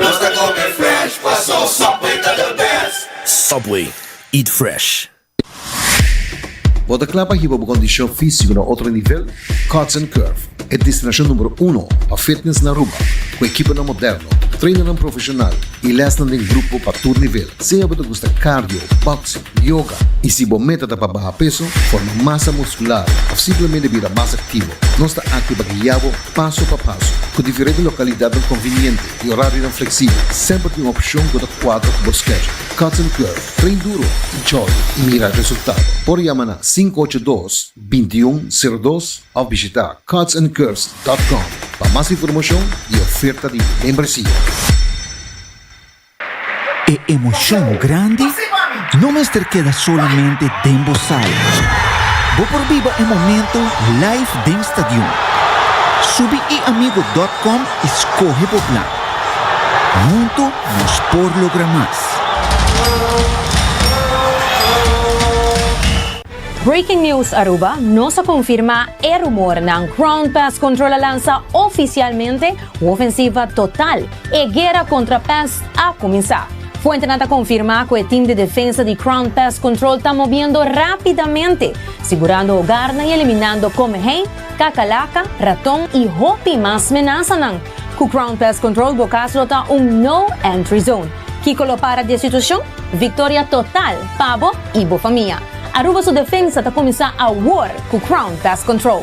Nos ta come fresh, paso Subway ta the best. Subway, eat fresh. Bo ta kla pa hiba bo kondishon físiko na otro nivel? Cuts and Curve, e destinashon numero uno pa fitness na Aruba, ku ekiponan moderno, trainannan profeshonal i lèsnan den grupo pa tur nivel, sea bo ta gusta cardio, boxing, Yoga. I si bo meta ta pa baha peso, forma masa muskular òf simplemente bira mas aktivo, nos ta aki pa guia bo paso pa paso. Ku diferente lokalidatnan konviniente i orarionan fleksibel, semper tin un opshon ku ta kuadra ku bo skedjul. Cuts and Curve, Train duro i jògi i mira resultado. Por yama na sinku ocho dos, binti un sero dos òf bishita cutsandcurves dòt kòm pa mas informashon i oferta di membresia. E emocion grandi no mester keda solamente den bo sala. Bo por biba e momento live den stadion. Subi eamigo.com y scoge bo plan. Hunto nos por logra mas. Breaking News Aruba, Nos a confirma e rumornan, Ground Pest Control a lansa oficialmente Un ofensiva total! E guera kontra pès a kuminsá. Fuentenan ta konfirmá ku e tim di defensa di Crown Pest Control ta mobiendo rápidamente, sigurando ogarnan i eliminando komehei, kakalaka, raton i hopi mas menasanan. Ku Crown Pest Control bo kas lo ta un No Entry Zone. Kiko lo para di e situashon? Viktoria total pa bo i bo famia! Aruba su defensa ta kuminsá awor ku Crown Pest Control.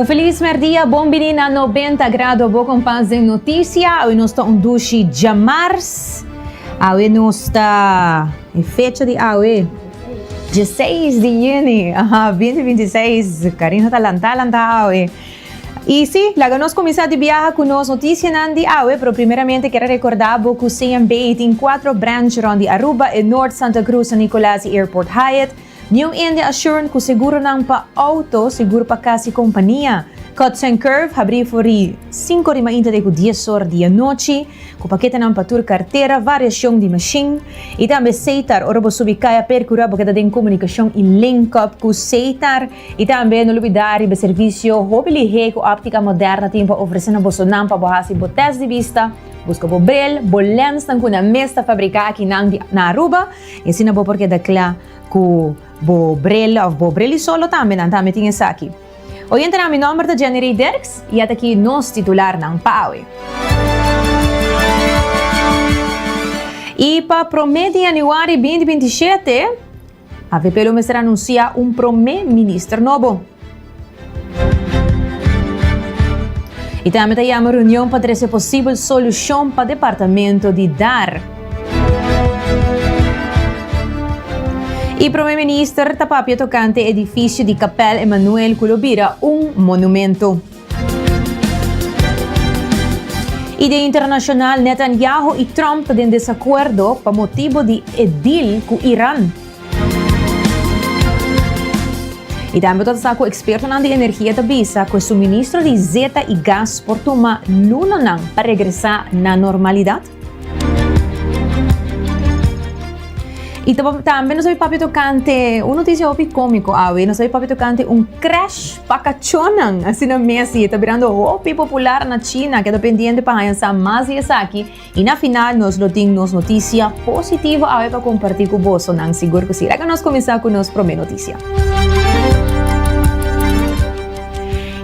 Un feliz merdia, bon bini na 90 grado bo kompas den notisia. Awe nos ta un dushi djamars. Awe nos ta. E fecha di awe, dieseis di juni, aha, binti binti seis, Carino ta lantá lantá awe. I sí, laga nos kuminsá di biaha ku nos notisianan di awe, pero primeramente ker a rekordá bo ku CMB tin kuatro branch rònt di Aruba, e Noord, Santa Cruz, San Nicolas i Airport Hyatt. Niu India Assurant ku seguronan pa outo, seguro pa kas i kompania. Cuts and Curve habrí for di sinku di mainta te ku dies or di anochi, ku paketenan pa tur kartera, variashon di mashin, i tambe seitar. Ora bo subi kaya Perkura bo keda den komunikashon i link-up ku seitar. I tambe no lubidá riba e servisio hopi lihé ku Optica Moderna tin pa ofresé na bosonan pa bo hasi bo tèst di bista, buska bo brel, bo lènsnan ku na mes ta fabriká akinan di na Aruba. I asina bo por keda kla ku bo brel òf bo brel i solo tambe, nan tambe tin esaki. Oyentenan, mi nòmber ta Jenny Rey Derks i at aki nos titularnan pa awe. I pa promé di yanüari binti binti shete, avp lo mester anunsiá un promé minister nobo. Y tambe ta yama reunion pa trece posibel solucion pa departamento di Dar. Y Prome Minister ta papia tocante edificio di Kapel Emmanuel cu lo bira un monumento. Y den internacional Netanyahu y Trump den desacuerdo pa motibo di e deal cu Iran. I tambe ta sa ku ekspertonan di energia ta bisa ku e suministro di zeta i gas por tuma lunanan pa regresá na normalidat. I ta tambe nos a bin papia tokante un notisia hopi kómiko awe. Nos a bin papia tokante un krèsh pa kachónan. Asina mes i e ta birando hopi popular na China, ku e ta pendiente pa haña sa mas di esaki. I na final nos lo tin nos notisia positivo awe pa kompartí ku boso nan sigur ku si. Laga nos kuminsá ku nos promé notisia.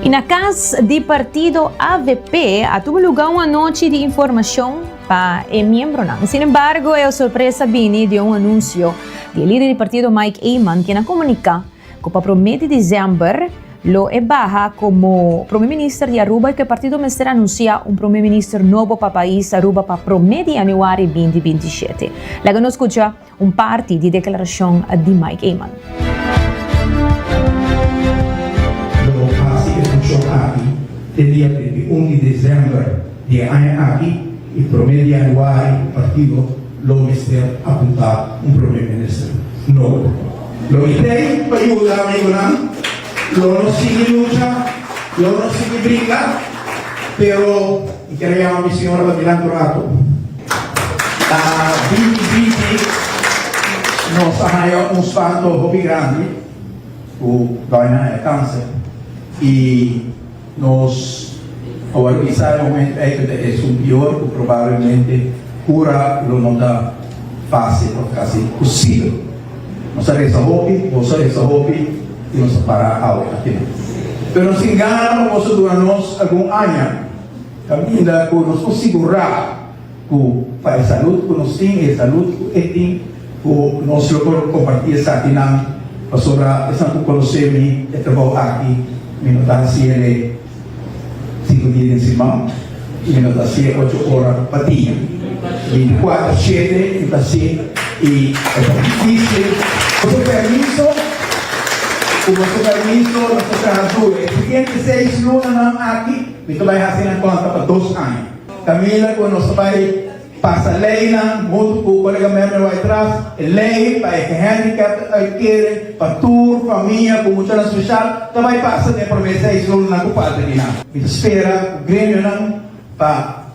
I na kas di partido avp a tuba lugá un anochi di informashon pa e miembronan. Sin embargo e sorpresa bini di un anunsio di e lider di partido Mike Eman, ken a komuniká, Cu pa prome di diciember lo e baha como prome minister di Aruba y cu e partido mester anuncia un prome minister nobo pa pais Aruba pa prome di januari binti binti shete. Laga nos scucha un parti di declaracion di Mike Eman. Lo bo haci e funcion aki te dia trintaiun di diciember di e aña aki y prome di januari partido Lo mester apunta un prome minister? No. Lo mi pei pa yuda amigunan, lo no sigui lucha, lo no sigui bringa, pero mi ker a yama mi siñora pa mira anto rato. Ta bibi bibi, nos a haya un spanto hopi grandi cu dòña Naya Canse y. Nos a wòrdu bisa e momentu ei ku ta esun pior ku probablemente kura lo no ta fásil òf kasi posibel. Nos a resa hopi, boso a resa hopi i nos a para awe aki nan. Pero nos tin gana pa boso duna nos algun aña kaminda ku nos por sigurá ku pa e salud ku nos tin i e salud ku e tin, ku nos lo por kompartí esakinan, pasobra esnan ku konosé mi, e trabou aki mi no ta hasié lei sinku dia den siman, i mi no ta hasié ocho ora pa dia, binticuater shete mi ta hasié, i e ta difisil, ku su permiso, ku nos ta permiso, nos ta traha duro, e siguiente seis lunanan aki mi ta bai hasi nan konta pa dos aña. Camila cu nos ta bay pasa ley nan hunto cu colega Merme Wycraft, e ley pa e gehandicapten uitkere pa tur famia cu muchanan special ta bay pasa den e prome seis lunanan cu falta di nan. Mi ta spera cu gremionan pa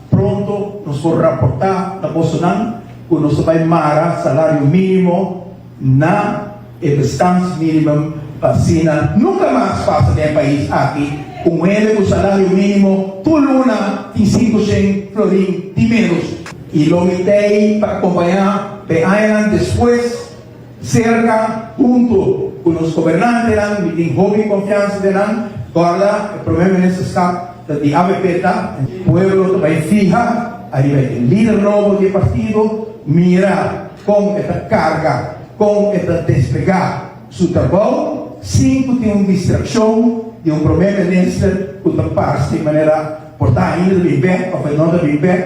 pronto nos por raporta na bosonan cu nos ta bay mara salario minimo, na e bestans minimum pa asina nunka mas pasa den e pais aki ku un hende ku salario minimo tur luna tin sinku shen florin di menos. Y lo mitei pa acompaña den añanan despues cerca hunto cu nos gobernantenan, mi tin hopi confiansa den nan, guarda e Primer Ministerschap ta di avp ta. Pueblo ta bay fiha ariba e lider nobo di e partido, mira. Kon e ta karga, kon e ta desplegá su trabou sin ku tin un distrakshon di un promé minister ku ta pars di manera por ta ainda ta bin bek òf e no ta bin bek,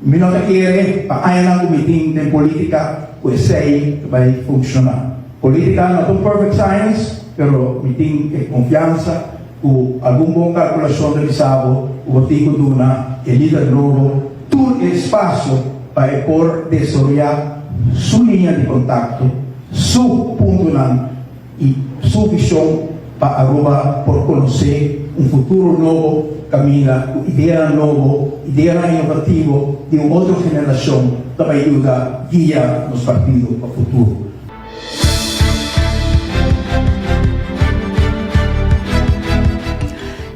mi no ta kere pa añanan ku mi tin den polítika ku esei ta bai funshoná. Polítika no ta un perfect science, pero mi tin e konfiansa. Ku algun bon kalkulashon revisado ku bo tin ku duna e lider nobo tur e espasio pa e por desaroyá su liña di kontakto, su puntunan i su vishon pa Aruba por konosé un futuro nobo kaminda ku ideanan nobo, ideanan inovativo di un otro generashon ta bai yuda guia nos partido pa futuro.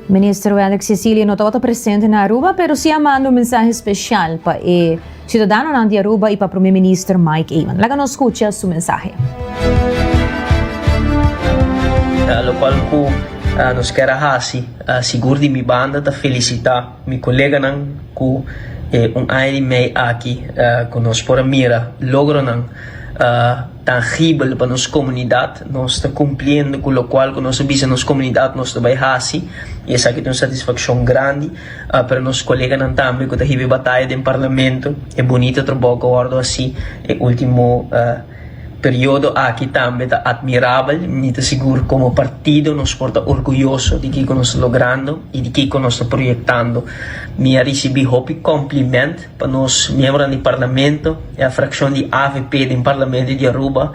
Minister Wellix Cecilia no tabata presente na Aruba, pero si a manda un mensahe special pa e ciudadanonan di Aruba y pa Prome Minister Mike Eman. Laga nos scucha su mensahe. Locual cu nos kier a haci, sigur di mi banda, ta felicita. Mi koleganan ku e un aña di mei aki ku nos por a mira logronan tangibel pa nos komunidat. Nos ta kumpliendo ku lokual ku nos a bisa nos komunidat nos ta bai hasi i esaki ta un satisfakshon grandi. Pero nos koleganan tambe ku ta hib'e bataya den parlamento e bunita trabou ku a wòrdu hasi e último. Periodo aki tambe ta atmirabel, mi ta sigur como partido nos por ta orguyoso di kico nos ta logrando y di kico nos ta proyectando. Mi a ricibi hopi compliment pa nos miembronan di Parlamento, e fraccion di avp den Parlamento di Aruba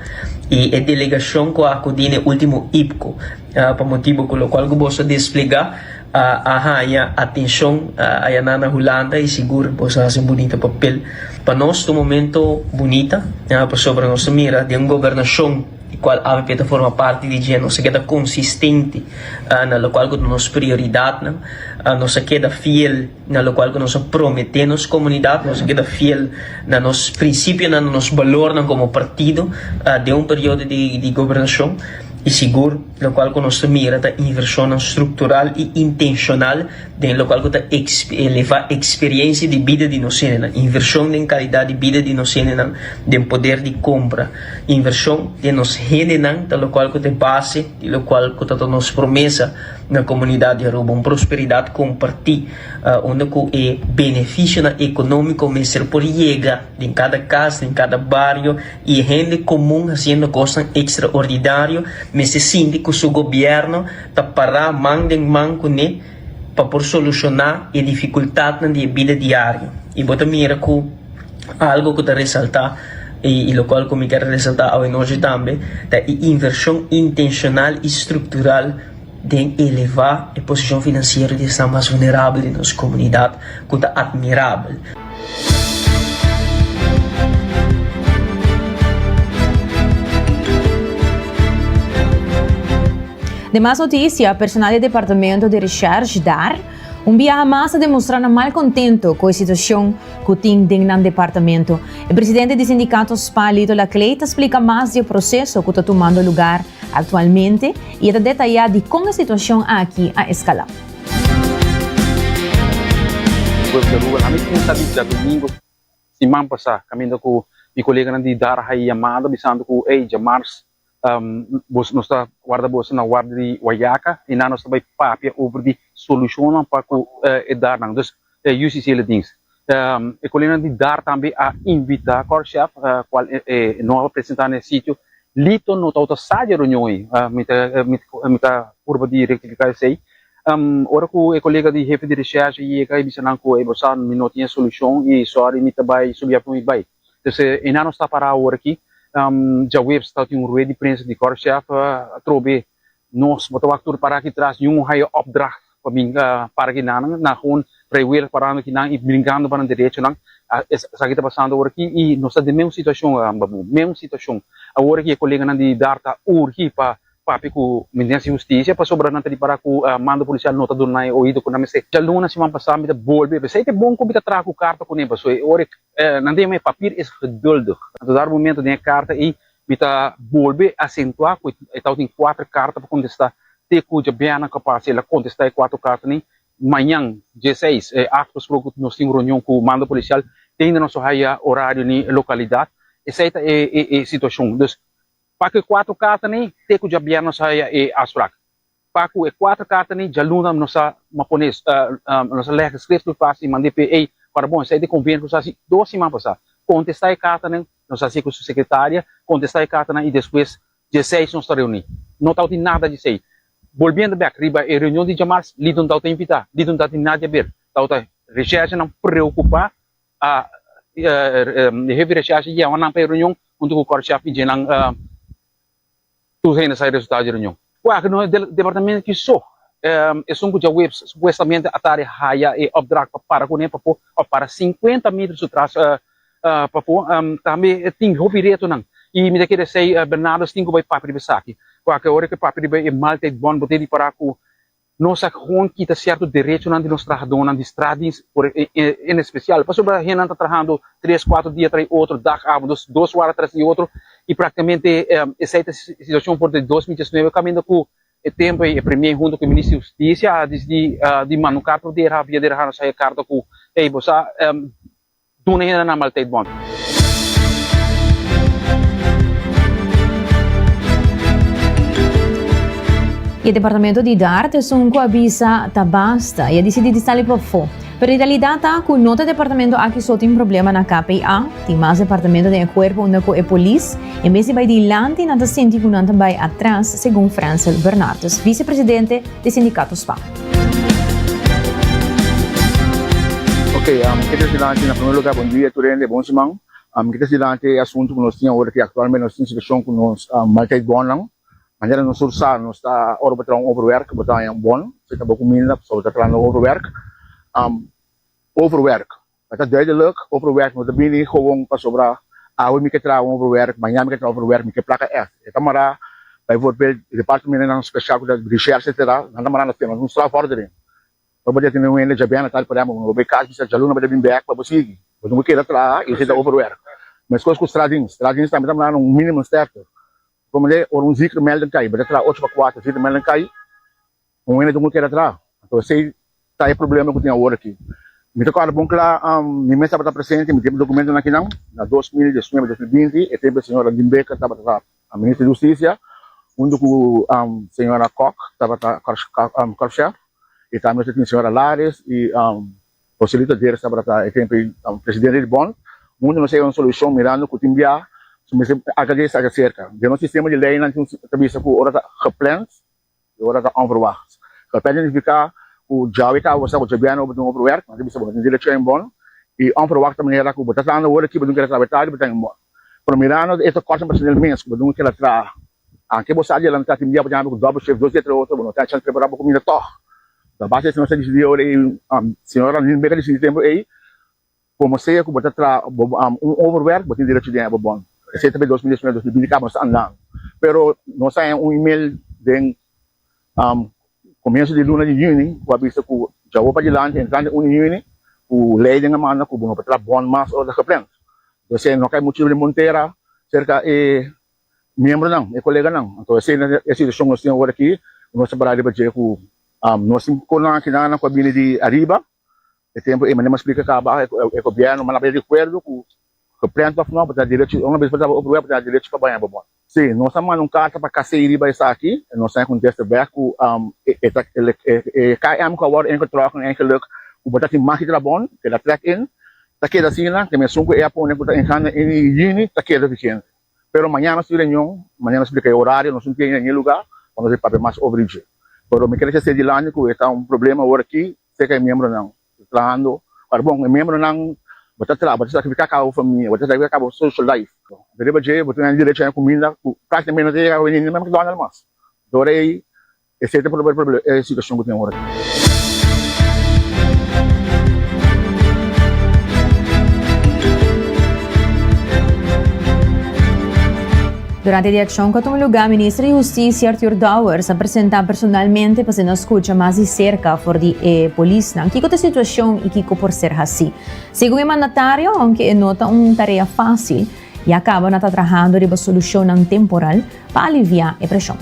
y e delegacion cu a acudi na e ultimo IPCO, pa motibo cu locual cu boso desplega. a haña atenshon ayanan na Hulanda y sigur boso hasi un bunita papel. Pa nos ta un momento bunita pasobra nos ta mira den un gobernashon di cual avp ta forma parti di dje nos a keda consistente na locual cu ta nos prioridadnan, nos a keda fiel. na lokual ku nos a prometé nos komunidat nos a keda fiel na nos prinsipionan na nos balornan komo partido den un periodo di gobernashon i sigur lokual ku nos ta mira ta invershonnan struktural i intenshonal den lokual ku ta elevá eksperiensia di bida di nos hendenan invershon den kalidat di bida di nos hendenan den poder di kompra invershon den nos hendenan ta lokual ku ta e base di lokual ku ta nos promesa. Na komunidat di Aruba un prosperidat kompartí unda ku e benefishonan ekonómiko mester por yega den kada kas, den kada bario i e hende komun hasiendo kosnan ekstraordinario mester sinti ku su gobièrnu ta pará man den man kuné pa por solushoná e difikultatnan di e bida diario i bo ta mira ku. Algo ku ta resaltá i lokual ku mi ker resaltá awenochi tambe ta e invershon intenshonal i struktural den elevá e posishon finansiero di esnan mas vulnerabel di nos komunidat ku ta atmirabel. Demas notisia, Personal di Departamento di Recherche, dar. Un biaha mas a demostra nan mal contento cu e situacion cu tin den nan departamento. E presidente di sindicato spa Lito Laclay ta splica mas di e proceso cu ta tumando lugar actualmente y e ta detaya dicon e situacion aki a escala. Web de Aruba, Ami tin ta di djadomingo siman pasa caminda cu mi coleganan di Dara Hayi yamada bisando cu ey dja mars boso nos ta warda boso na warda di wayaca y nan nos ta bay papia over di solucionnan pa cu e dar nan dus e yu sisi e dings e coleganan di dar tambe a invita Cor Chef cual no a presenta na e sitio Lito no tawata sa di e reunion ey mi ta mi ta purba di rectifica esey ora cu e colega di hefe di recherche yega y bisa nan cu ey bo sa mi no tin e solucion y sorry mi ta bay subi avion y bay. Entonces e nan nos ta pará awor aki, djaweps ta tin un rued di prensa di Kortchef atrobe nos bo ta wak tur pará aki tras di un ohaya opdracht pa bin para ki nan, nan gewoon vrijwillig parando ki nan i brinkando pa nan derechonan, esaki ta pasando awor aki i nos ta den mesun situashon Babu, mesun situashon, awor aki e koleganan di Dar ta urgi pa papia ku Ministernan di Hustisia pasobra nan ta di pará ku mando polisial no ta duna nan e oido ku nan mester. Djaluna siman pasá mi ta bolbe, p'esei ta bon ku mi ta traha ku karta kuné pasobra e ora e Nan ta yama e papir es geduldig. Nan ta dar momento den e karta ei. Mi ta bolbe asentua ku e ta tin kuater karta pa kontestá te ku djabeanan kapas el a kontestá e kuater karta nei. Mañan, die seis, e afgesproke nos tin un reunion ku mando polisial den di noso haya orario ni e lokalidat. Esei ta e situashon. Dus, pa ku e kuater karta nei te ku djabeanan nos haya e afsprak. Pa ku e kuater karta ni djaluna nos a a pone nos a lege skriftelijk pas i mande p'e ei para bon. Esei te konveni ku nos a hasi dos siman pasá. Kontestá e kartanan, nos hasi ku su sekretaria kontestá e kartanan i despues dieseis nos ta reuní. No tawti nada djesei. Bolbiendo bèk riba e reunion di djamars, Liton tawta invitá, Liton tawta di Nadia ber, tawta resherjanan preokupá, e hefi resherja yèwanan p'e reunion huntu ku kòrshèf i djenan. Tur hende sa e resultado di reunion. Kua ku nos departamento ki so esun ku djaweps supuestamente a tar di haya e opdracht pa para kuné papo pa para sinkuenta meter su tras papo tambe e tin hopi retonan i mi ta kere esei Bernardo Stingo bai papia riba esaki kua ku ora ke papia riba e maltijbond bo tin ripará ku Nos a con kita cierto derechonan di nos trahadornan di straatdiens por en especial pasobra hennan ta trahando tres, cuatro dia tras e otro, dag, avond, dus, dos wara tras di e otro y practicamente esey ta e situacion for di dos mil diecinuebe caminda cu e tempo ey e Premier hunto cu e Minister di Husticia a dicidi di manucar por dera via dera haya carta cu ey bo sa Duna hende nan malteit bon. E departamento di Dart esun cu a bisa ta basta y a dicidi di sali pafo. Pero e realidad ta cu no ta departamento aki so tin problema na KPA, tin mas departamento den e cuerpo unda cu e polis, en bes di bay dilanti, nan ta sinti cu nan ta bay atras, segun Francel Bernardes, vicepresidente di Sindicato sba. Ok, mi ta trese dilanti na primer lugar bon dia tur hende, bon siman. Mi ta trese dilanti e asuntu ku nos tin awor aki, aktualmente nos tin situashon ku nos malta e bònnan. Manera nos tur sa nos ta ora bo traha un overwerk bo ta haña un bòn, si ta bo kuminda pasobra bo ta traha un overwerk. Overwerk A ta duidelijk over werk no ta bini gewoon pasobra awe mi ke traha over werk, maña mi ke traha over werk, mi ke plaka ef. E ta mará bijvoorbeeld di departementenan spesial ku ta recherche etcetera, nan ta mará na tema di un strafvordering. Bo tabata tene un hende dja bèn atar, por ehèmpel, bo bai kas bisa djaluna bo ta bin bèk pa bo sigui, bo tin ku keda traha i esei ta over werk. Meskos ku straatdienst, straatdienst tambe ta mará na un minimumsterkte. Komende ora un ziekemelding kai, bo ta traha ocho pa kuater, ziekemelding kai, Un hende tin cu keda atrás. Anto esey ta e problema cu tin awor aki. Mi ta corda bon cla, mi mes tabata presente, mi tin e documentonan akinan, na dos mil diesnuebe, dos mil binti, e tempo e señora Limbecker tabata Minister di Husticia, hunto cu señora Kok tabata Korpschef, y tambe nos a tin señora Lares y Joselito Deres tabata e tempo presidente di Bond. Hunto nos a haya un solucion mirando cu tin bia su mester haga dje, haga cerca. Den nos sistema di leynan tin ta bisa cu ora ta gepland, E ora ta onverwacht. Lo ta identifica cu djau e cabo bo sa cu dje biaha no bo tin otro werk, manera bisa bo no tin derecho en bono y onverwachte manera cu bo ta tanda ora ki bo tin keda traha tardi pa ta en bono. Pero mirando e tocos en Brazil el mes cu bo tin keda traha antes bo sa di adelanta tin dia bo jama cu double shift dos dia tres ora bo no tin a chance prepara bo comida tog. Ta base esey nos a dicidi ora ey, señor Arnel Becker a dicidi tempo ey Komo sea ku bo ta traha un overwerk, bo tin derecho di hèba bòn. Esei ta dos mil dies nueve, dos mil binti ka bo no sta andando. Pero nos a hèn un email den komienso di luna di yüni ku a bisa ku dja hopi adilanti, entrando unu di yüni, ku Leiden a manda ku bo no por traha bòn mas ora ta geplend. P'esei no kai motibu di montera serka e miembronan, e koleganan. Anto esei na e situashon nos tin awor aki ku nos ta para riba dje ku nos tin konankinanan ku a bini di ariba. E tempu ei, manera mi a splika kaba aki, e gobièrnu manaba e rikuerdo ku geprent òf nò bo ta derecho, un bes bo trabou operwèf bo ta na derecho pa baña bo bòt. Sí, nos a manda un karta pa KCI riba esaki, nos ta den kontesta bèk ku e ta e KM ku awor enkel tròk en engeluk ku bo ta tin mas di trabon, keda trek in, ta keda asina te mesun ku e apone ku ta engana in yini ta keda vigente. Pero mañana nos tin reunion, manera mi a splika e orario nos tin tin e lugá pa nos papia mas over i dje. Pero mi kere ke segi lanti ku e ta un problema awor aki Seka e miembronan ta trahando pa bon. E miembronan bo ta traha bo ta sakrifika kaba bo famia, bo ta sakrifika kaba bo social life. Riba dje bo ta gana derecho na e kuminda ku praktikamenti no ta yega veni ni na McDonald mas. Ta ora ei e seta por resolve e situashon ku tin ora aki. Durante di akshon ku a tuma lugá, Minister di Hustisia, Arthur Dowers, a presentá personalmente pa ser nan skucha mas di serka for di e polisnan kiko ta e situashon i kiko por ser hasí. Segun e mandatario, ounke e no ta un tarea fásil, ya kaba nan ta trahando riba solushonnan temporal pa aliviá e preshon.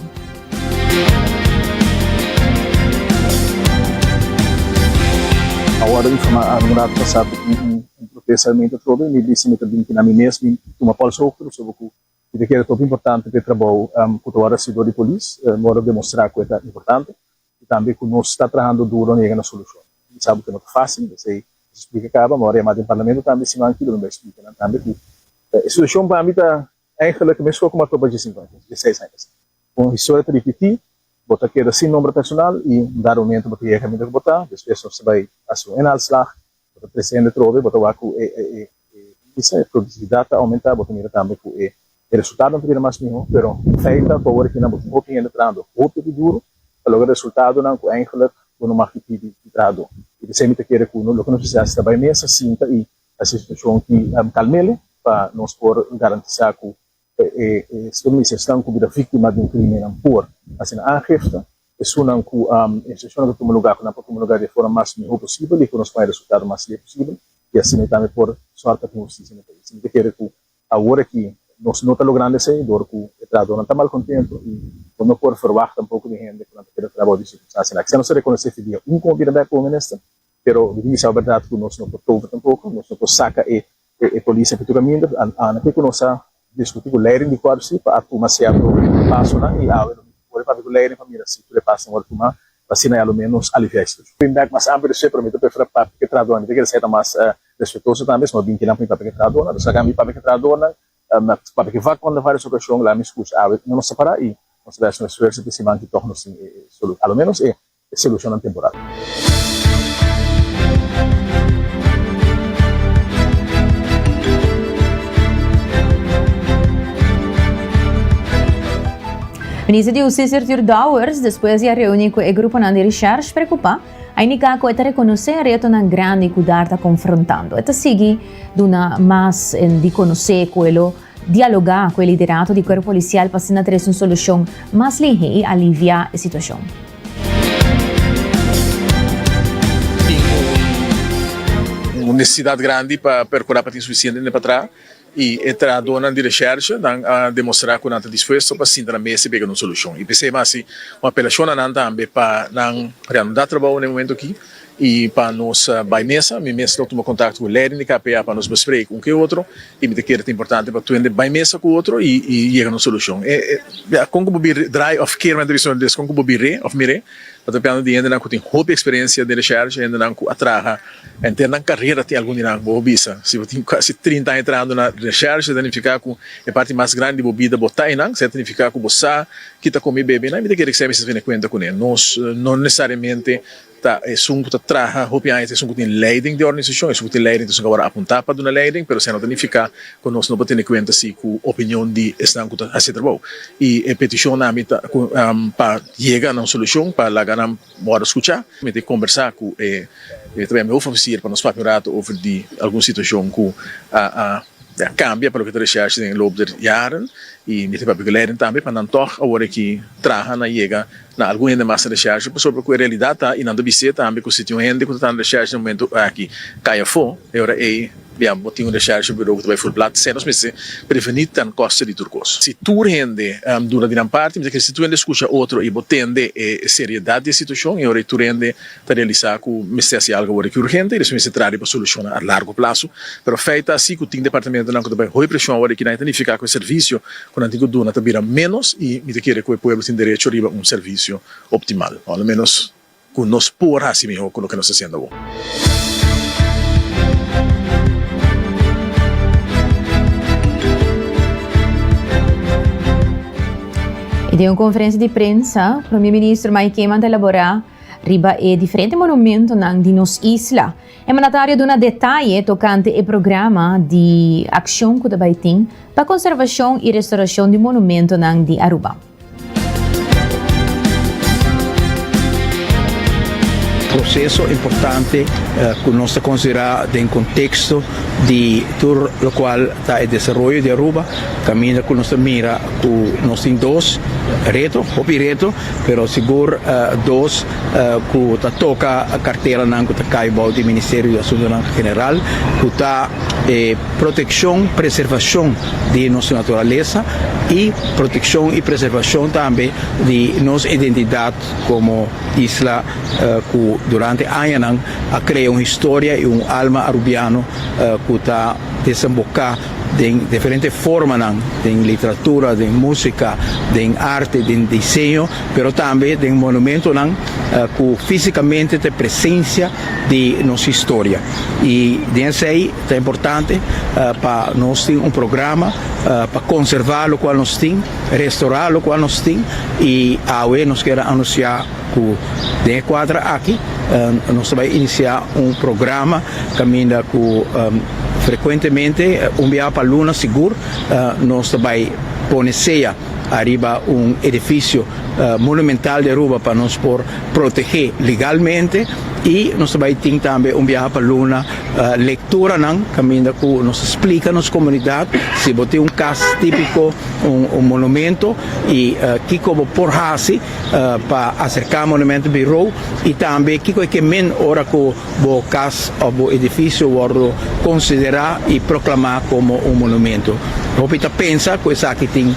Un protesta mi ta trobe mi bisa mi ta bin kina mi mes bin tuma pòls hoog tur soba ku mi ta kere troppo importante pa e trabou ku ta wòrdu hasido di polis. Mi wòrdu demostrá ku e ta importante i tambe ku nos ta trahando duro na yega na solushon. Mi sa ku no ta fásil, p'esei mi splika kaba, mi wòrdu yamá den parlamento tambe siman ki lo mi bai splika nan tambe ku e situashon pa mi ta èigelik mescua ku mi a troba dje sinku aña, dje seis aña pasá. Kon historia ta ripití, bo ta keda sin nomber personal i un dado momento bo ta yega kaminda ku bo ta, despues nos ta bai hasi un inhaalslag Bo ta trece hende trobe, bo ta wak cu e indise, e productividad ta aumenta, bo ta mira tambe cu e resultadonan ta bira mas miho, pero fey ta cu awor aki nan bo tin hopi hende trahando hopi di duro pa logra resultadonan cu eindelijk bo no mag pipí di trahado. Y esey ta kere cu loke nos mester haci ta bay mesa, sinta y haci situacion ki calmele pa nos por garantisa cu E stremis esnan ku bira víktima den krimennan por asina aangifte. Esunnan ku instrukshonnan ta tuma lugá ku nan por tuma lugá di e forma mas mihó posibel i ku nos por haya resultado mas lei posibel i asina e tambe por sòrt pa tin hustisia na e pais. Mi ta kere ku awor aki nos no ta logrando esei dor ku e trahadónan ta malkontentu i bo no por ferwagt tampoko di hende ku nan ta keda traha bou di e sikonstansia aki. Sa nos ta rekonosé Fidia un komo bira bèk ku un minister? Pero mi tin di saba berdad ku nos no por toba tampoko, nos no por saka e e polis aki tur a minder, a a na ke ku nos a diskutí ku leiding di kuadro si pa a tuma sierto pasonan i awe lo mi tin ora papia ku leiding pa mira si tur e pasonan wòrdu tumá pa asina ya lo menos nos aliviá e situashon. Tin bèk mas amper di su e pero mi ta preferá papia ku e trahadónan, mi ta kere seta mas respetuoso tambe, sino bin kinan pa mi papia ku e trahadónan, lo saka mi papia ku e trahadónan, papia ku vak konta vários okashon, la mi skucha awe no nos separá i nos a bès un esfuerso pa e siman ki tòg nos tin e e solu a lo menos e e solushonnan temporal. Minister di Hustisia Arthur Dowers despues di a reuni cu e gruponan di recherche preocupa a indica cu e ta reconoce e retonan grandi cu dar ta confrontando. E ta sigui duna mas di conoce cu e lo Dialogá ku e liderato di kuerpo polisial pa asina ta resi un solushon mas lihe i aliviá e situashon. Tin un nesesidat grandi pa perkurá pa tin sufisiente hende pa traha i e trahadónan di reshèrshe nan a demostrá ku nan ta dispuesto pa sinta na mes i bega na un solushon. I p'esei mas si un apelashon na nan tambe pa nan reanudá trabou na e momentu akí i pa nos bai mesa. Mi mes lo tuma kontakto ku leden di KPA pa nos besprek un ku e otro. Y mi ta kere ta importante pa tuende bay mesa cu otro y yega na un solucion. Bia, con cu bo biri, draai of kere mente bisto na inglés, con cu bo biri of mire pa trapiando di hendenan cu tin hopi experiencia den recherche, hendenan cu a traha enter nan carera tin algun di nan. Bo bisa, si bo tin casi trinta aña trahando na recherche ta nifica cu e parti mas grandi di bo bida bo ta einan, sea ta nifica cu bo sa ki ta come y bebe einan. Mi ta kere cu esei mi sa bini cuenta cu ne, nos no necesariamente. Ta esun ku ta traha hopi aña, ta esun ku tin leiding di organisashon, esun ku tin leiding, ta esun ku awor a apuntá pa duna leiding, pero esei no ta nifiká ku nos no por tene kuenta si ku opinion di esnan ku ta hasi trabou. I e petishon na mi ta ku pa yega na un solushon, pa laga nan wòrdu skuchá. Mi ta kombersá ku e tabata mi hofofisier pa nos papia un ratu over di algun situashon ku a kambia pa loke ta reshèrsha den e loop der yaren. I mi ta papia ku leiding tambe pa nan tòg awor aki traha, nan yega. Nan algun hende mas ta reshershi pasobra ku e realidad ta y nan ta bis'é tambe ku si tin un hende ku ta tanda reshershi den momento aki cay afó, e ora ey bia bo tin un reshershi buró ku ta bay for plat sey nos mester preveni ta costa di tur cos. Si tur hende duna di nan parti mester kere si tur hende escucha otro y bo tende e seriedad di e situacion y ora ey tur hende ta realisá ku mester hasi algu awor aki urgente i despues mester traha riba solushonnan a largu plasu. Pero fei ta asi ku tin departamentunan ku ta bai hoi preshon awor aki, nan e ta nifiká ku e servisio ku nan tin ku duna ta bira ménos i mi ta kere ku e pueblo tin derecho riba un servisio optimal, o alo ménos ku nos por hasi mihó ku loke nos ta hasiendo awor. I den un konferensia di prensa, Prome Minister Mike Eman ta elaborá. Riba e diferente monumentonan di nos isla, e mandatario duna detaye tokante e programa di akshon ku ta bai tin pa konservashon i restorashon di monumentonan di Aruba. Proseso importante ku nos ta konsiderá den konteksto di tur lokual ta e desaroyo di Aruba, kaminda ku nos ta mira ku nos tin dos reto, hopi reto. Pero sigur dos ku ta toka karteranan ku ta kai bou di Ministerio di Asuntunan General ku ta e protekshon, preservashon di nos naturalesa i protekshon i preservashon tambe di nos identidat komo isla ku durante añanan a krea un historia i un alma Arubiano ku ta desemboká. Den diferente formanan, den literatura, den musika, den arte, den diseño, pero tambe den monumentonan ku físikamente ta e presensia di nos historia. I den esei ta importante pa nos tin un programa pa konservá lokual nos tin, restorá lokual nos tin i awe nos keda anunsiá, Ku den e kuadra aki nos ta bai inisiá un programa kaminda ku frekuentemente un biaha pa luna sigur nos ta bai pone sea ariba un edifisio monumental di Aruba pa nos por protegé legalmente i nos ta bai tin tambe un biaha pa luna lekturanan kaminda ku nos ta splika nos komunidat si bo tin un kas típiko un monumento i kiko bo por hasi pa aserká Monumentu Birou i tambe kiko e ke min ora ku bo kas òf bo edifisio wòrdu konsiderá i proklamá komo un monumentu. Hopi ta pensa ku esaki tin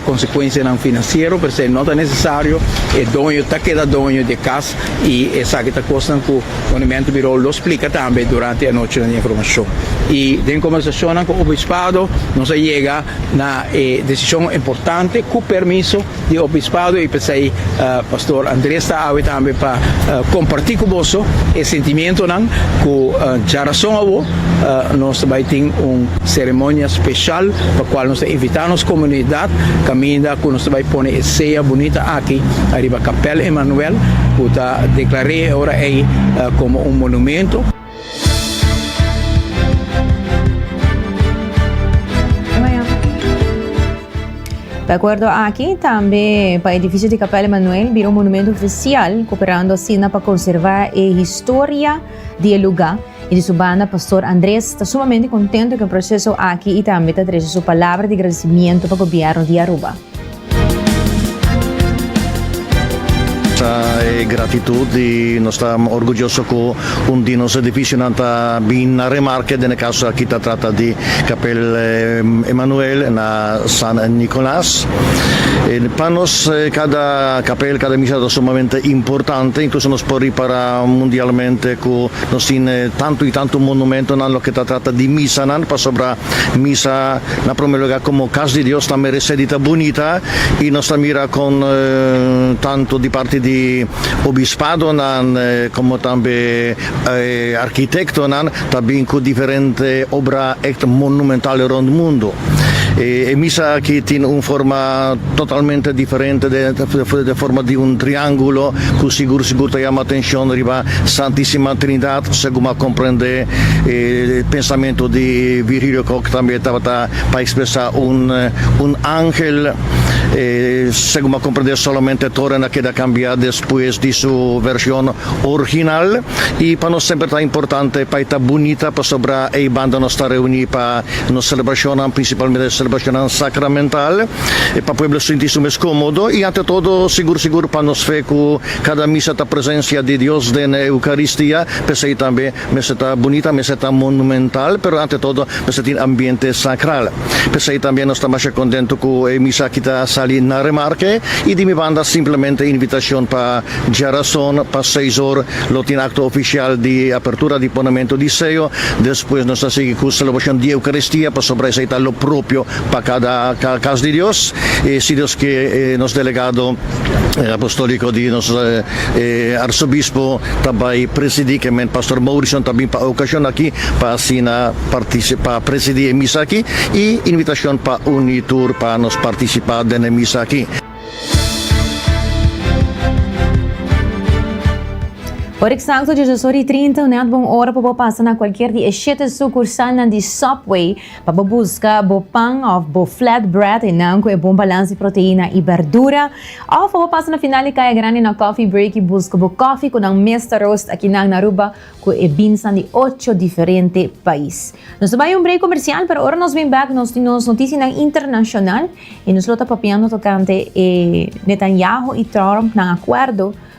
konsekuensianan finansiero, pero esei no ta nesesario. E doño ta keda doño di e kas i esaki ta kosnan ku Monumentu Birou lo splika tambe durante anochinan di informashon. I den kòmbersashonnan ku Obispado nos a yega na e desishon importante ku permiso. Di Obispado y p'esey Pastor Andres ta awe tambe pa comparti cu boso e sentimientonan cu dja rason awo nos ta bay tin un ceremonia special pa cual nos ta invita nos comunidad caminda cu nos ta bay pone e sea bunita aki ariba Kapel Emanuel cu ta declare e ora ey como un monumento. De acuerdo aki, tambe pa edificio di Capella Emmanuel bira un monumento oficial, cooperando asina pa conserva e historia di e lugar. Y di su banda Pastor Andres ta sumamente contento cu e proceso aki y tambe ta trece su palabra di agradecimiento pa Gobierno di Aruba. Ta e gratitud y nos ta orguyoso cu un di nos edificionan ta bin na remarke, den e caso aki ta trata di Capel Emmanuel na San Nicolas. Pa nos cada capel, cada misa ta sumamente importante, incluso nos por ripara mundialmente cu nos tin tanto y tanto monumentonan loke ta trata di misanan, pasobra misa Na prome lugar komo Kas di Dios ta meresé di ta bunita i nos ta mira kon tantu di parti di obispadonan komo tambe arkitektonan ta bin ku diferente obra èkt monumental rònt mundu. E misa aki tin un forma totalmente diferente den forma di un triángulo ku sigur sigur ta yama atenshon riba Santísima Trindat segun bo a komprendé E pensamentu di Virgilio Kok tambe tabata pa ekspresá un un angel, segun bo a komprendé solamente Torah a keda kambiá despues di su vershon orginal i pa nos semper ta importante pa e ta bunita pasobra ei banda nos ta reuní pa nos selebrashonnan, prinsipalmente selebrashonnan sakramental, pa pueblo sinti su mes kómodo i ante todo sigur sigur pa nos fe ku Kada misa ta presencia di Dios den e Eucaristia, p'esei tambe mester ta bunita, mester ta monumental, pero ante todo mester tin ambiente sacral. P'esei tambe nos ta masha contento cu e misa aki ta sali na Remarque y di mi banda simplemente invitacion pa djarazon pa seis or lo tin acto oficial di apertura di ponamento di seo, despues nos ta sigui cu celebracion di Eucaristia pasobra esei ta lo propio pa cada cas di Dios y si Dios ke nos delegado. E apostoliko di nos e arsobispo ta bai presidi kemen pastor Mauricio ta bin pa okashon aki pa asina partisi pa presidi e misa aki i invitashon pa uni tur pa nos partisipa den e misa aki. Ora eksakto djoshoshori i trinta, un hèt bon ora pa bo pasa na kualkier di e shete sukursalnan di Subway. Pa bo buska bo pan òf bo flatbread enan ku e bon balans di proteina i berdura. Òf pa bo pasa na final di kaya grandi na kòfi break i buska bo kòfi ku nan mes ta roast akinan na Aruba ku e binsnan di ocho diferente pais. Nos ta bai un break komersial pero ora nos bin bèk nos tin nos notisianan internashonal i nos lo ta papiando tokante e Netanyahu i Trump nan akuerdo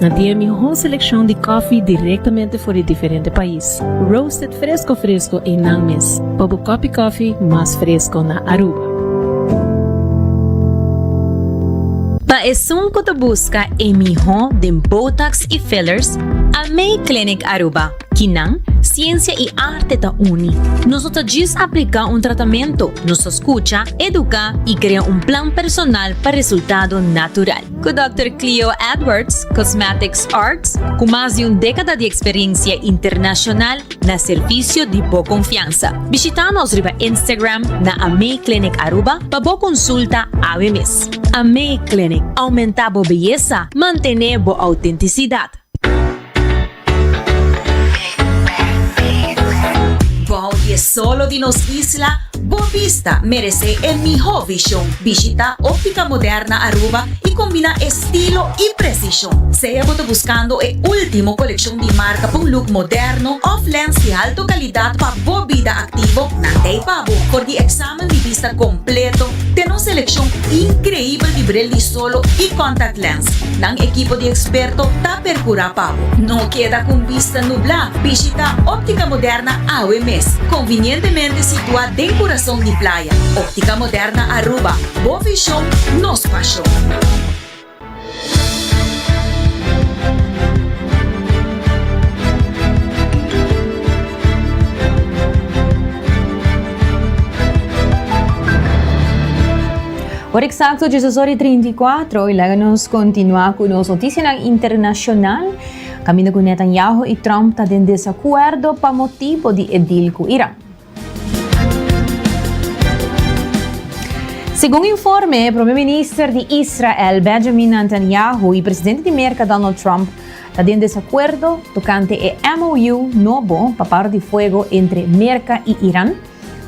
Nan tin e mihó selekshon di kòfi direktamente for di diferente pais, roasted fresko fresko ei nan mes pa bo kòpi kòfi mas fresko na Aruba. Pa esun ku ta buska e mihó den botox i fillers, a May Clinic Aruba, kinan, siensia i arte ta uni. Nos no ta djis apliká un tratamentu, nos ta skucha, eduká i krea un plan personal pa resultado natural. Ku Dòkter Cleo Edwards, Cosmetics Arts, ku mas di un dékada di eksperensia internashonal na servisio di bo konfiansa. Bishitá nos riba Instagram na Amei Clinic Aruba pa bo konsulta awe mes. Amei Clinic, Oumentá bo beyesa, mantené bo outentisidat. Bou di e solo di nos isla, bo bista merece e miho vision. Bishita Optica Moderna Aruba y combina estilo y precision. Sea bo ta buscando e ultimo coleccion di marca pa un look moderno of lens di alto calidad pa bo bida activo, nan ta e pa bo for di examen di bista completo den nos seleccion increibel di bril di sol. Solo y contact lens. Nan equipo di experto ta percura pa bo. No keda con bista nubla, bishita Optica Moderna awe mes. Convinientemente situa den curazon di playa. Optica Moderna Aruba, bo vision, nos pasion. Ora exacto 16 ora y 34 y laga nos continua cu nos noticianan internacional. Caminda cu Netanyahu y Trump ta den desacuerdo pa motibo di e deal cu Iran. Segun informe, Prome Minister di Israel, Benjamin Netanyahu, y Presidente di Merca, Donald Trump, ta den desacuerdo tocante e MOU nobo pa para di fuego entre Merca y Iran,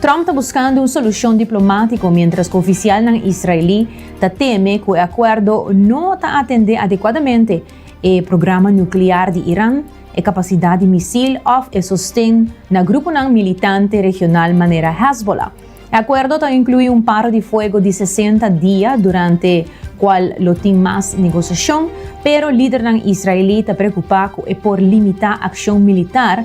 Trump ta buskando un solushon diplomátiko miéntras ku ofisialnan israelí ta teme ku e akuerdo no ta atendé adekuadamente e programa nuklear di Iran, e kapasidat di misil òf e sosten na gruponan militante regional manera Hezbollah. E akuerdo ta inkluí un para di fuego di sesenta dia durante kual lo tin mas negosiashon, pero lidernan israelí ta preokupá ku e por limitá akshon militar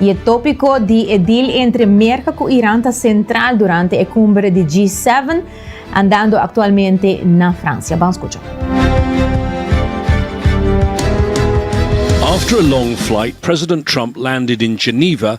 Y e tópiko di e deal entre Merka ku Iran ta sentral durante e kumbre di G-seven andando aktualmente na Fransia. Ban skucha. After a long flight, President Trump landed in Geneva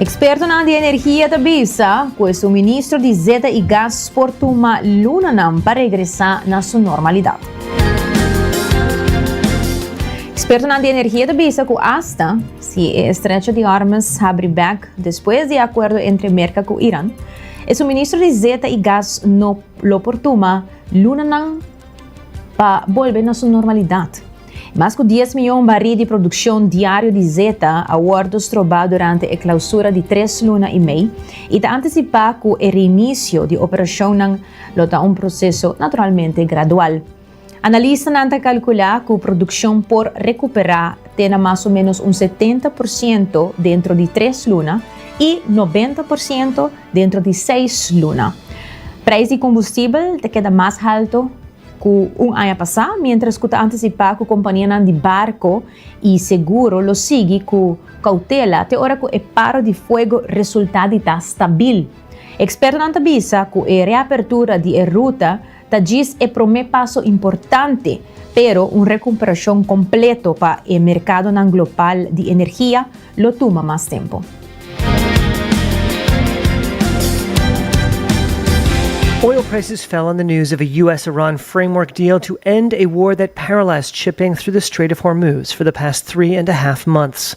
Ekspertonan di energia ta bisa ku e suministro di zeta i gas por tuma lunanan pa regresá na su normalidat. Ekspertonan di energia ta bisa ku asta si e estrecho di Hormuz habri bèk despues di e akuerdo entre Merka ku Iran, E suministro di zeta i gas no lo por tuma lunanan pa bolbe na su normalidat. Mas ku dies mion barí di produkshon diario di zeta a wòrdu strobá durante e klausura di tres luna i mei i ta antisipá ku e reinisio di operashonnan lo ta un proseso naturalmente gradual. Analistanan ta kalkulá ku produkshon por rekuperá te na mas o ménos un setenta por siento dentro di tres luna i noventa por siento dentro di seis luna. Preis di kombustibel ta keda mas haltu ku un aña pasá, miéntras ku ta antisipá ku kompanianan di barko i seguro lo sigui ku koutela te ora ku e paro di fuego resultá di ta stabil. Ekspertonan ta bisa ku e reapertura di e ruta ta djis e promé paso importante, pero un recumperacion completo pa e mercadonan global di energia lo tuma mas tempo. Oil prices fell on the news of a US-Iran framework deal to end a war that paralyzed shipping through the Strait of Hormuz for the past three and a half months.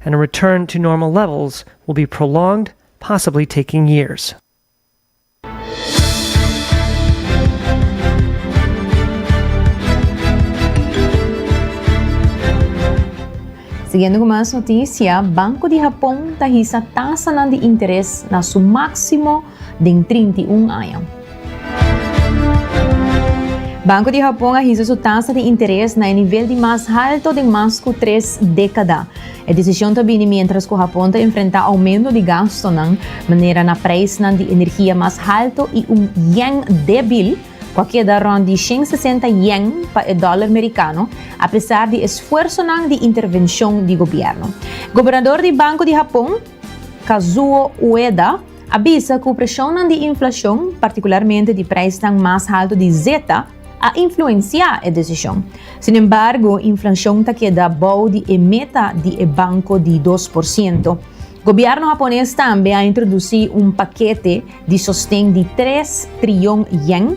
and a return to normal levels will be prolonged, possibly taking years. Siguiendo cu mas noticia, Banco di Hapon ta hisa tasanan di interes na su maximo. den trinta i un aña. Banko di Hapon a hisa su tasa di interes na e nivel di mas halto den mas ku tres dekada. E desishon ta bini miéntras ku Hapon ta enfrentá oumento di gastunan, manera na preisnan di energia mas halto i un yen débil, ku a keda rònt di shen sesenta yen pa e dòler merikano, apesar di esfuersonan di intervenshon di gobièrnu. Gobernador di Banko di Hapon, Kazuo Ueda, a bisa ku preshonnan di inflashon, partikularmente di preisnan mas haltu di zeta, a influensiá e desishon. Sinembargo, inflashon ta keda bou di e meta di e banko di dos por siento. Gobièrnu hapones tambe a introdusí un pakete di sosten di tres trilyon yen,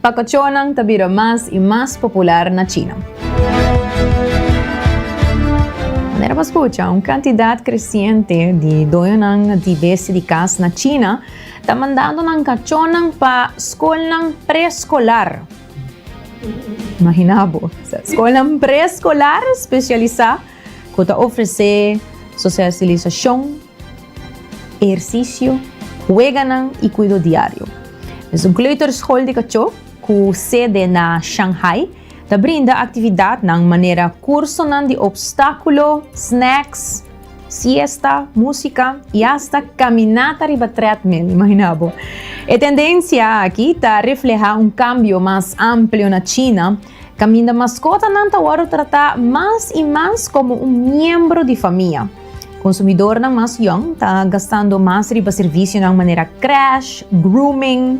Pacochonan ta bira mas y mas popular na China. Manera bo scucha, un cantidad creciente di doñonan di besti di cas na China ta mandando nan cachonan pa scolnan pre-scolar. Imagina bo, scolnan pre-scolar specialisa cu ta ofrece socialisacion. Ehersisio, weganan i kuido diario. Nos un kleuterschool di kachó, ku sede na Shanghai, ta brinda aktividatnan manera kursonan di opstákulo, snacks, siesta, músika i asta kaminata riba treadmill, imagina bo. E tendensia aki ta reflehá un kambio mas amplio na China, Kaminda maskotanan ta wòrdu tratá mas i mas komo un miembro di famia. Konsumidornan mas yòn ta gastando mas riba servisionan manera crèsh, grooming,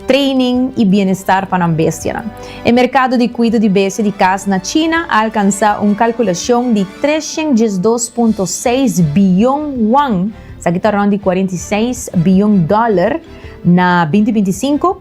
training i bienestar pa nan bestianan. E merkado di kuido di bestia di kas na China a alkansá un kalkulashon di tres shent dies dos punto seis biyon won, sa ki ta rònt di kuarenta i seis biyon dòler, na binti binti i sinku,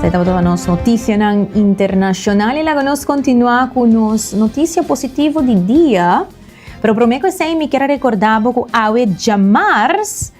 Sa e tabata nos noticianan internacional y laga nos continua cu nos noticia positivo di dia. Pero prome cu esey mi kier a recorda bo cu awe djamars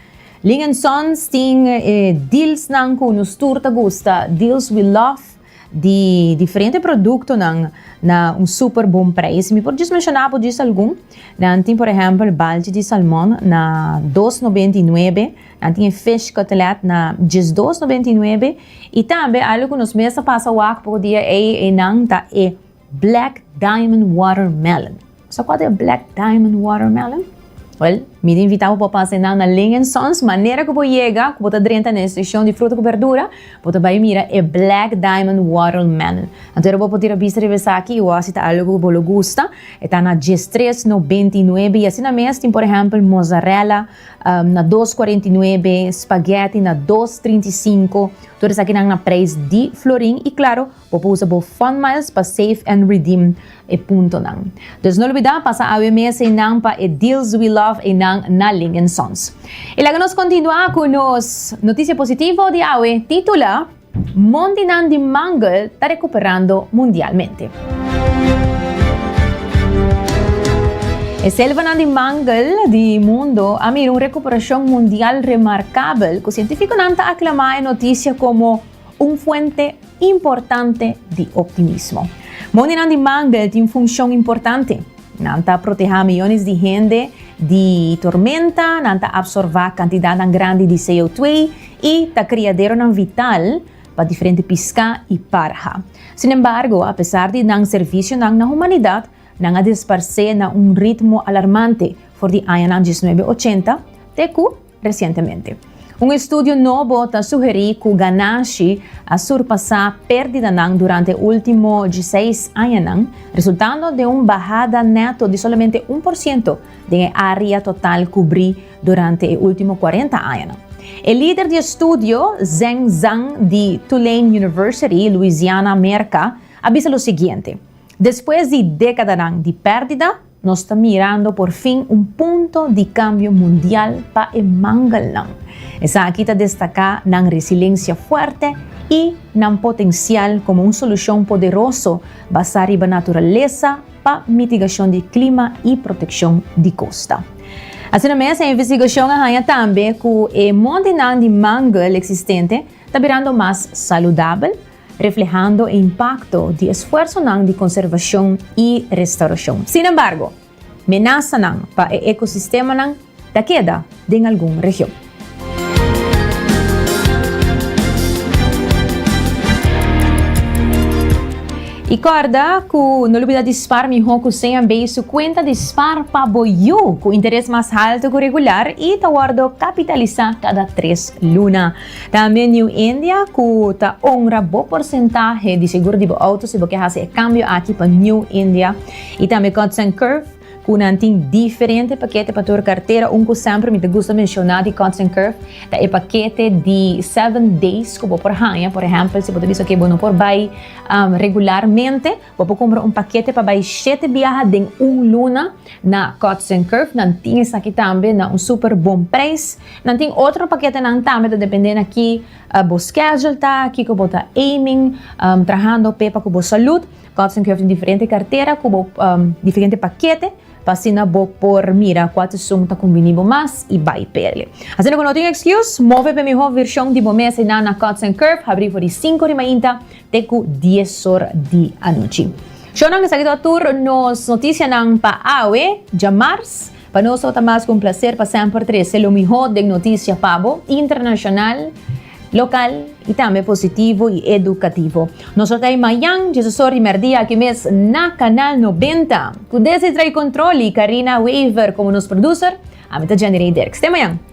Lin and Sons tin e dealsnan cu nos tur ta gusta, deals we love di diferente productonan na un super bon prijs. Mi por djis menciona bo djis algun. Nan tin por ehempel balchi di salmon na dos nobenta y nuebe. a tin e fish cutlet na diesdos noventa i nuebe i tambe algo ku nos mes a pasa wak poko dia ei ei nan ta e black diamond watermelon. Sa kua ta e black diamond watermelon? Wel, mi ta invitá bo pa pasa nan na Ling and Sons manera ku bo yega ku bo ta drenta na e sekshon di fruta ku berdura bo ta bai mira e black diamond watermelon. Anto era bo por tira bista riba esaki i wak si ta algo ku bo lo gusta. E ta na diestres noventa i nuebe i asina mes tin por ehèmpel mozzarella, Um, na dos cuarenta y nuebe, spaghetti na dos trinta y cinco. Todo esaki nan na prijs di florin. Y claro, bo por usa bo fun miles pa save and redeem e puntonan. Dus no olbida pasa awe mes einan pa e Deals We Love einan na Lingen Sons. Y laga nos continua cu nos noticia positivo di awe, titula. Mondinan di Mangel ta recuperando mundialmente. E selvanan di Mangel di mundo a mira un recuperacion mundial remarcabel cu cientificonan ta aclama e noticia como un fuente importante di optimismo. Mondinan di Mangel tin funcion importante. Nan ta proteha miyones di hende di tormenta, nan ta absorba cantidadnan grandi di CO2 y ta criaderonan vital pa diferente pisca y parha. Sin embargo, a pesar di nan servicionan na humanidad, nan a desparce na un ritmo alarmante for di añanan diesnuebe ochenta te cu recientemente. Un estudio nobo ta sugeri cu ganashi a surpasa perdidanan durante e ultimo dieseis añanan, resultando den un bahada neto di solamente un por ciento den e area total cubri Durante e ultimo cuarenta añanan. E lider di estudio Zheng Zhang di Tulane University, Louisiana, Merca, a bisa lo siguiente, Despues di decadanan di perdida, nos ta mirando por fin un punto di cambio mundial pa e mangelnan. Esaki ta destaca nan resilencia fuerte y nan potencial como un solucion poderoso basa riba naturaleza, pa mitigashon di klima i protekshon di kosta. Asina mes e investigashon a haña tambe ku e montenan di mangel eksistente ta birando mas saludabel, reflehando e impakto di esfuersonan di konservashon i restaurashon. Sinembargo, menasanan pa e ekosistemanan Ta keda den algun region. I kòrda ku no lo bida dispar mihó ku seña bei su kuenta dispar pa bo yu ku interes mas haltu ku regular i ta wòrdu kapitalisá kada tres luna. Tambe New India ku ta ongra bo porsentahe di segur di bo outo si bo ke hasi e kambio aki pa New India i tambe Godsen Curve, cu nan tin diferente pakete pa tur kartera. Un cu semper mi ta gusta menciona di Cuts and Curve ta e pakete di seven days cu bo por haña. Por ehempel si bo ta bisa oke bo no por bay regularmente bo por cumpra un pakete pa bay shete biaha den un luna na Cuts and Curve. Nan tin esaki tambe na un super bon prijs. Nan tin otro paketenan tambe ta depende na ki bo schedule ta, kico bo ta aiming trahando pe pa cu bo salud. Kòrte tin kiof den diferente kartera ku bo diferente pakete pa asina bo por mira kua seson ta kumbini bo mas i bai p'el. Asina ku no tin ekskus, move p'e mihó vershon di bo mes einan na Kòrte tin Kiof habrí for di sinku di mainta te ku dies or di anochi. Shownan, esaki ta tur nos notisianan pa awe, djamars. Pa nos tabata mas ku un plaser pa semper trese lo mihó den notisia pa bo, internashonal, Local y tambe positivo y educativo. Nos lo ta e mayan dje su sor di merdia aki mes na Canal 90. Cu Desi Trae Control y Carina Wever como nos producer, ami ta Jenny Rey Derks. Te mayan!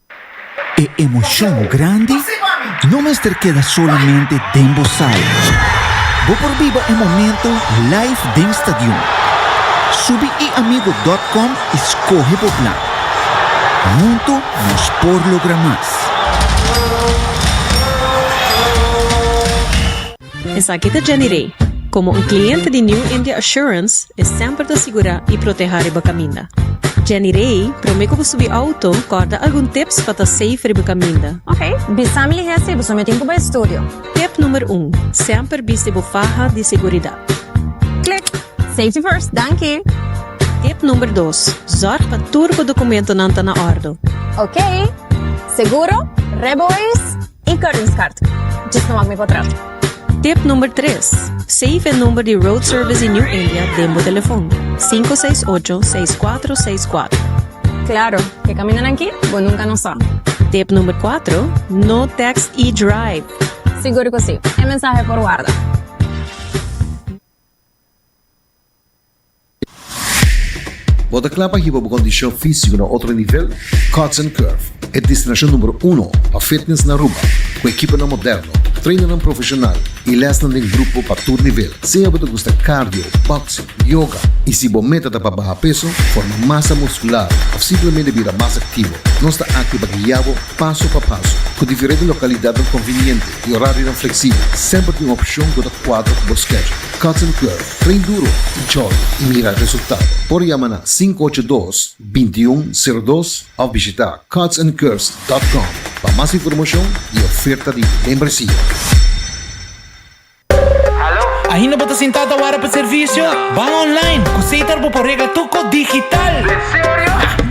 E emocion grandi no mester keda solamente den bo sala. Bo por biba e momento live den stadion. Subi eamigo.com i skohe bo plan. Hunto nos por logra mas. Esaki ta Jenny Rey. Komo un kliente di New India Assurance, e semper ta sigurá i proteha riba kaminda. Jenny Rey, promé ku bo subi outo, kòrda algun tips pa ta safe riba kaminda. Ok, bisa mi lihé si bo so mitin ku bo estudio. Tip numer un, Semper bisti bo faha di seguridat. Klik! Safety first, danki! Tip numer dos, Zòrg pa tur bo dokumentonan ta na òrdo. Ok! Seguro? Rebois? E kortingskaart. Djis no wak mi kontrato. Tip number tres, Save e number di Road Service di New India den bo telefon, sinku seis ocho, seis kuatro, seis kuatro. Klaro, e kamindanan aki bo nunka no sa. Tip number kuatro, No text i drive. Sigur ku si, e mensahe por warda. Bo ta kla pa hiba bo kondishon físiko na otro nivel? Cuts and Curve, e destinashon numero uno pa fitness na Aruba, ku ekiponan moderno, trainannan profeshonal i lèsnan den grupo pa tur nivel. Sea bo ta gusta cardio, boxing, yoga i si bo meta ta pa baha peso, forma masa muskular òf simplemente bira mas aktivo, nos ta akí pa guia bo paso pa paso. Ku diferente lokalidadnan konviniente i orarionan fleksibel, semper tin un opshon ku ta kuadra ku bo schedule. Cotton Club, Train Duro, Tichollo i mira resultado. Por yama na sinku ocho dos, binti un, sero dos òf bishitá cotsandcurves dòt kòm pa mas informashon i oferta di membresia. Ainda bo ta sintá ta wara pa servisio? Ban online ku Sater bo por regla tuko digital.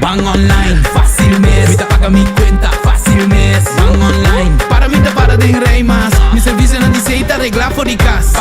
Ban online fásil mes mi ta paga mi kuenta fásil mes. Ban online para mi ta para den rei mas mi servisionan di Sater reglá for di kas.